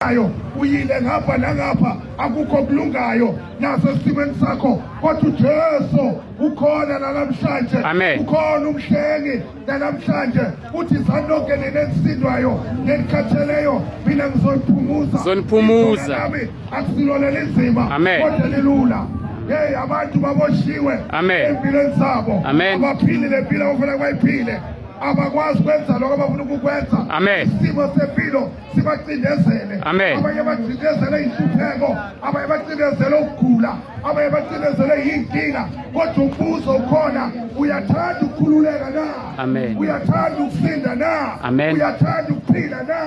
ayo uyile ngapha nangapha akukho kulungayo naso esimweni sakho kodwa uJesu ukhona nalamhlanje ukhona umhlengi nalamhlanje uthi sanonke nenesindwayo nelikhatheleyo mina ngizoniphumuza zoniphumuza nami akusilona lenzima kodwa lilula hey abantu baboshiwe empilweni zabo abaphilile impilo abafuna kwayiphile abakwazi kwenza lokho abafuna ukukwenza isimo sempilo sibacindezele abanye bacindezele inhlupheko abanye bacindezele ukugula abanye bacindezele yinkinga kodwa umbuzo ukhona uyathanda ukukhululeka na uyathanda ukusinda na uyathanda ukuphila na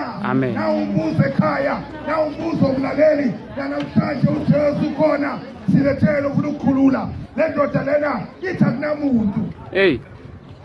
na umbuzo ekhaya na umbuzo okulaleli nanamhlanje ujesu ukhona silethele ufuna ukukhulula le ndoda lena ithi akunamuntu eyi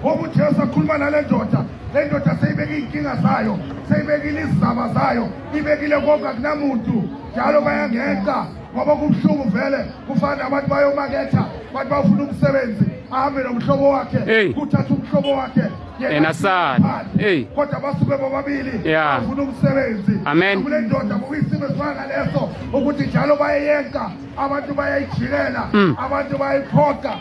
Ngoba uJesu akhuluma nale ndoda le ndoda seyibeke iy'nkinga zayo seyibekile izizaba zayo ibekile konke akunamuntu njalo bayangenqa ngoba kubuhlungu vele kufana nabantu bayomaketha abantu bafuna umsebenzi ahambe nomhlobo wakhe kuthatha umhlobo wakhe yena sana hey kodwa basuke bobabili bafuna umsebenzi amen kule ndoda kuyisimo esifana leso ukuthi njalo bayeyenka abantu bayayijikela mm. abantu bayayiphoqa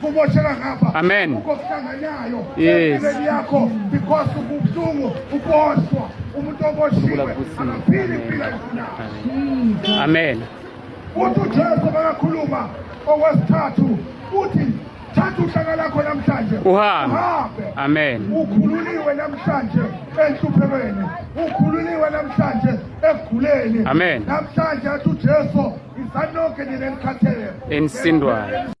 kumoshela ngapha amen ukokuthanganyayo yes yakho because ubuhlungu uboshwa umuntu oboshiwe akaphili impilo yona amen uthi uJesu bakakhuluma okwesithathu uthi thatha uhlaka lakho namhlanje uhambe amen ukhululiwe namhlanje enhluphelweni ukhululiwe namhlanje ekuguleni amen namhlanje athi uJesu isanonke nina enikhathele insindwayo